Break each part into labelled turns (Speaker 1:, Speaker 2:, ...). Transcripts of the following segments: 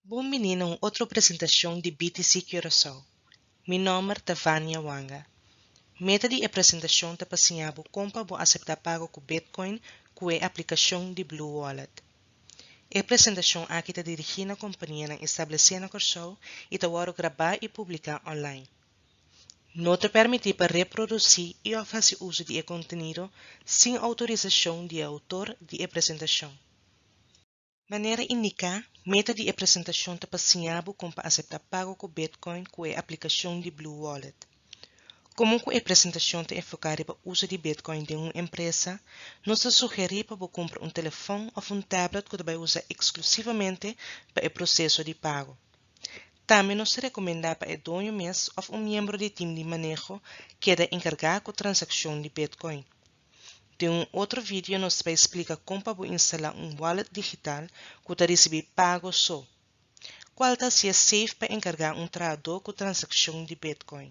Speaker 1: Bon bini na un otro presentacion di BTC Curaçao. Mi nomber ta Vania Wanga. Meta di e presentacion ta pa siña bo con pa bo acepta pago cu Bitcoin cu e aplicacion di Blue Wallet. E presentacion aki ta dirigi na companianan establece na Corsou y ta worde graba y publica online. no ta permití pa reproducí i òf hasi uso di e kontenido sin outorisashon di e outor di e presentashon. Manera indiká, meta di e presentashon ta pa siña bo kon pa aseptá pago ku Bitcoin ku e aplikashon di Blue Wallet. Komo ku e presentashon ta enfoká riba uso di Bitcoin den un empresa, nos ta sugerí pa bo kumpra un telefòn òf un tablet ku ta bai usa eksklusivamente pa e proseso di pago. Tambe nos ta rekomendá pa e doño mes òf un miembro di tim di maneho keda enkargá ku transakshon di Bitcoin. Den un otro vidio nos ta bai splika kon pa bo instalá un wallet digital ku ta risibí pago so. Kual ta hasié seif pa enkargá un trahadó ku transakshon di Bitcoin?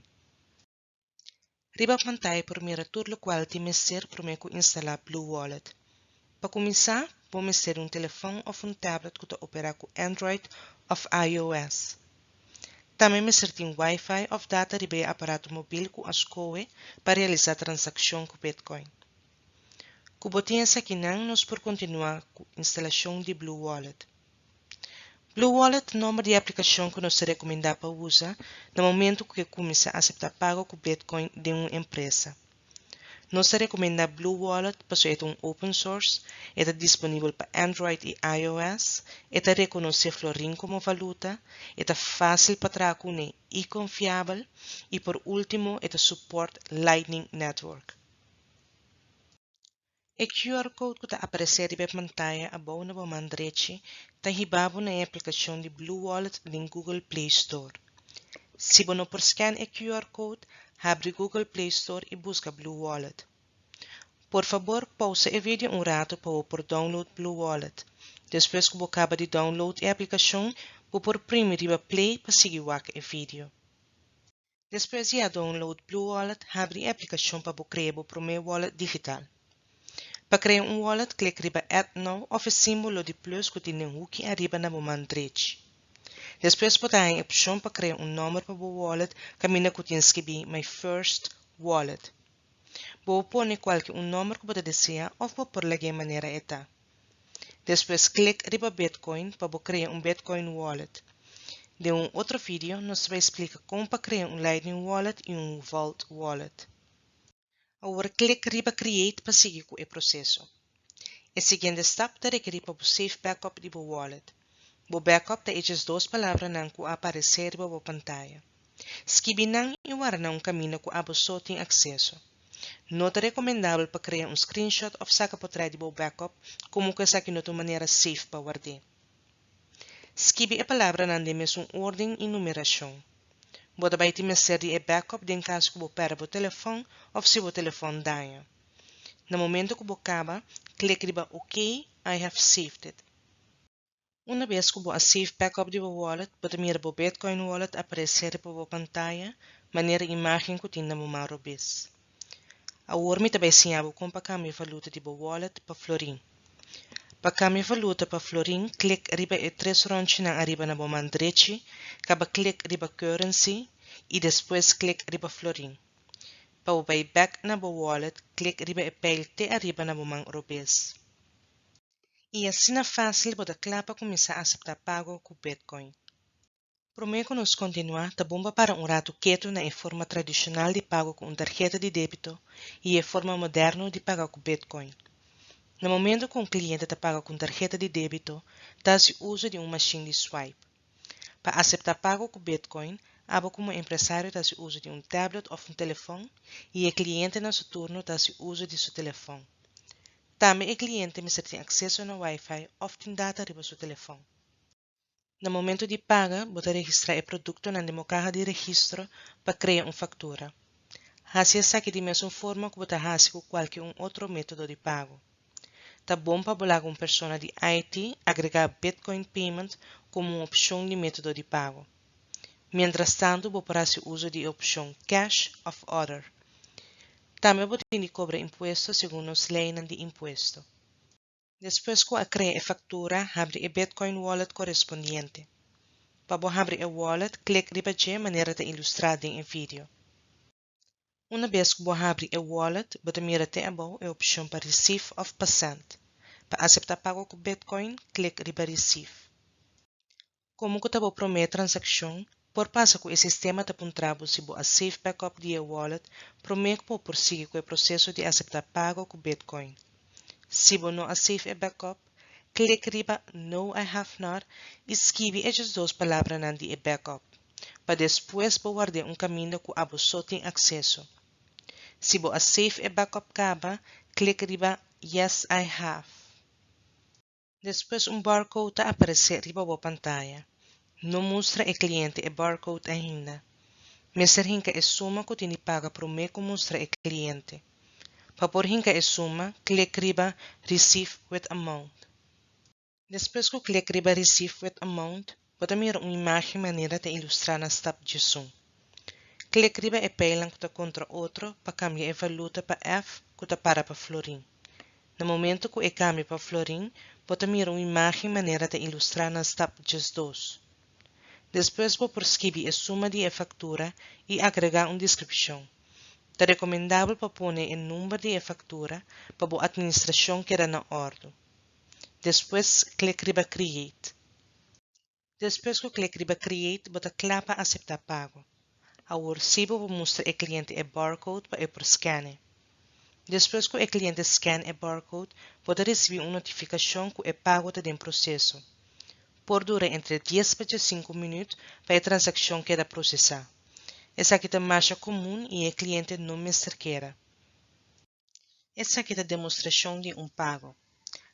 Speaker 1: Riba pantai por mira tur lokual tin mester promé ku instalá BlueWallet. Pa kuminsá, bo mester di un telefòn òf un tablet ku ta operá ku Android òf IOS. Tambe mester tin Wi-Fi òf data riba e aparato mobil ku a skohe pa realisá transakshon ku Bitcoin. Ku bo tin esakinan nos por kontinuá ku instalashon di BlueWallet. Bluewallet nomber di aplikashon ku nos ta rekomendá pa usa na momentu ku ke kuminsá aseptá pago ku Bitcoin den un empresa. Nos ta rekomendá Bluewallet pasobra e ta un open source, e ta disponibel pa Android i iOS, e ta rekonosé florin komo valuta, e ta fásil pa traha kuné i konfiabel, i por último e ta support Lightning Network. E QR code ku ta aparesé riba e pantaya abou na bo man drechi ta hiba bo na e aplikashon di BlueWallet den Google Play Store. Si bo no por scan e QR code, habri Google Play Store i buska BlueWallet. Por fabor pousa e video un ratu pa bo por download BlueWallet. Despues ku bo kaba di download e aplikashon, bo por primi riba play pa sigui wak e video. Despues di a download BlueWallet, habri e aplikashon pa bo krea bo promé wallet digital. Pa krea un wallet, klik riba Add Now of e símbolo di plus ku tin den huki ariba na bo man drechi. Despues bo ta haña e opshon pa krea un nòmber pa bo wallet kaminda ku tin skibí My First Wallet. Bo por pone kualke un nòmber ku bo ta desea òf bo por lag'é manera e ta. Despues klik riba Bitcoin pa bo krea un Bitcoin Wallet. Den un otro video nos ta bai splika kon pa krea un Lightning Wallet i un Vault Wallet. Awor klik riba Create pa sigui ku e proseso. E siguiente stap ta rekerí pa bo safe backup di bo wallet. Bo backup ta eches dos palabranan cu a aparece riba bo pantaya. Skibi nan y warda nan un camino cu abo so tin acceso. No ta recomendabel pa crea un screenshot of saca potret di bo backup como cu esaki no ta un manera safe pa ward'é. Skibi e palabranan den mesun orden y numeracion. Bo ta bay tin mester di e backup den cas cu bo perde bo telefon of si bo telefon daña. Na momento cu bo caba, click riba OK, I have saved it. Una bes ku bo a save backup di bo wallet, bo ta mira bo Bitcoin wallet aparesé riba bo pantaya manera imágen ku tin na bo man robes. Awor mi ta bai siña bo kon pa kambia valuta di bo wallet pa florin. Pa kambia valuta pa florin klik riba e tres ròntjinan ariba na bo man drechi, kaba klik riba Currency i despues klik riba Florin. Pa bo bai bèk na bo wallet klik riba e pijl te ariba na bo man robes. i asina fásil bo ta kla pa kuminsá aseptá pago ku Bitcoin. Promé ku nos kontinuá, ta bon pa para un ratu ketu na e forma tradishonal di pago ku un tarheta di débito i e forma moderno di paga ku Bitcoin. Na momentu ku un kliente ta paga ku un tarheta di débito, ta hasi uso di un mashin di swipe. Pa aseptá pago ku Bitcoin, abo komo empresario ta hasi uso di un tablet òf un telefòn i e klientenan su turno ta hasi uso di su telefòn. Tambe e kliente mester tin akseso na Wi-Fi òf tin data riba su telefòn. Na momentu di paga bo ta registrá e produktonan den bo kaha di registro pa krea un faktura. Hasi esaki di mesun forma ku bo ta hasi ku kualke un otro método di pago. Ta bon pa bo laga un persona di IT agregá Bitcoin Payment komo un opshon di método di pago. Mientrastantu bo por hasi uso di e opshon Cash of Other. Tambe bo tin di kobra impuesto segun nos leinan di impuesto. Despues ku a krea e faktura, habri e Bitcoin Wallet korespondiente. Pa bo habri e wallet, klik riba dje manera ta ilustrá den e video. Una bes ku bo habri e wallet, bo ta mira te abou e opshon pa Receive òf pa Send. Pa aseptá pago ku Bitcoin, klik riba Receive. Komo ku ta bo promé transakshon, por pasa ku e sistema ta puntra bo si bo a save backup di e wallet promé ku bo por sigui ku e proseso di aseptá pago ku Bitcoin. Si bo no a save e backup, klik riba No I have not i skibi e djesdos palabranan di e backup. pa despues bo ward'é un kaminda ku abo so tin akseso. Si bo a save e backup kaba, klik riba Yes I have. Despues un barcode ta aparesé riba bo pantaya. No mustra e kliente e barcode ainda. Mester hinka e suma ku tin di paga promé ku mustra e kliente. Pa por hinka e suma, klik riba Receive with amount. Despues ku klik riba Receive with Amount, bo ta mira un imágen manera ta ilustrá na stap djesun. Klik riba e pijlnan ku ta kontra otro pa kambia e valuta pa F ku ta para pa florin. Na momentu ku e kambia pa florin, bo ta mira un imágen manera ta ilustrá na stap djesdos. Despues bo por skibi e suma di e faktura i agregá un deskripshon. Ta rekomendabel pa pone e number di e faktura pa bo atministrashon keda na òrdu. Despues klik riba Create. Despues ku klik riba Create bo ta kla pa aseptá pago. Awor sí bo por mustra e kliente e barcode pa e por skèn'e. Despues ku e kliente skèn e barcode bo ta risibí un notifikashon ku e pago ta den proseso. Por dura entre dies pa djasinku minüt pa e transakshon keda prosesá. Esaki ta masha komun i e kliente no mester keda. Esaki ta demostrashon di un pago.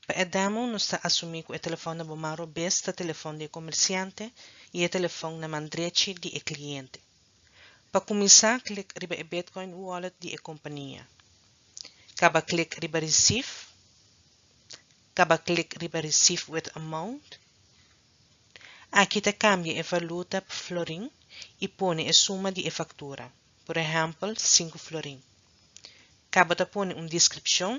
Speaker 1: Pa e demo nos ta asumí ku e telefòn na bo man robes ta telefòn di e komersiante i e telefòn na man drechi di e kliente. Pa kuminsá klik riba e Bitcoin Wallet di e kompania. Kaba klik riba Receive. Kaba klik riba Receive with Amount. Aki ta kambia e valuta pa florin i pone e suma di e faktura. Por ehèmpel, sinku florin. Kaba ta pone un deskripshon.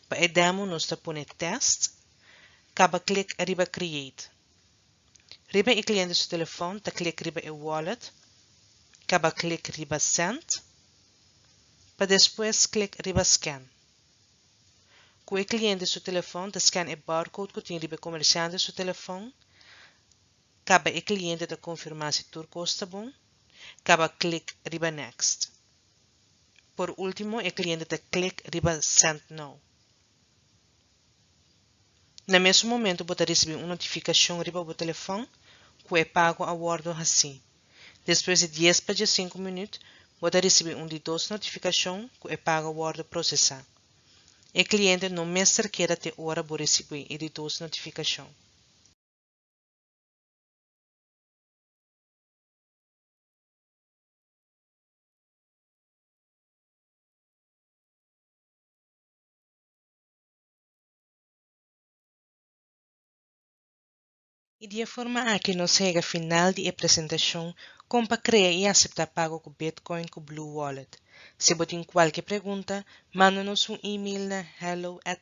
Speaker 1: Pa e demo nos ta pone tèst. Kaba klik riba Create. Riba e kliente su telefòn ta klik riba e wallet. Kaba klik riba Send. Pa despues klik riba Scan. Ku e kliente su telefòn ta scan e barcode ku tin riba e komersiante su telefòn. Kaba e kliente ta konfirmá si tur kos ta bon, kaba klik riba Next. Por último e kliente ta klik riba Send Now. Na mesun momentu bo ta risibí un notifikashon riba bo telefòn ku e pago a wòrdu hasí. Despues di dies pa djasinku minüt, bo ta risibí un di dos notifikashon ku e pago a wòrdu prosesá. E kliente no mester keda te ora bo risibí e di dos notifikashon. I di e forma aki nos hega final di e presentashon kon pa krea i aseptá pago ku Bitcoin ku Blue Wallet. Si bo tin kualke pregunta, manda nos un email na hello at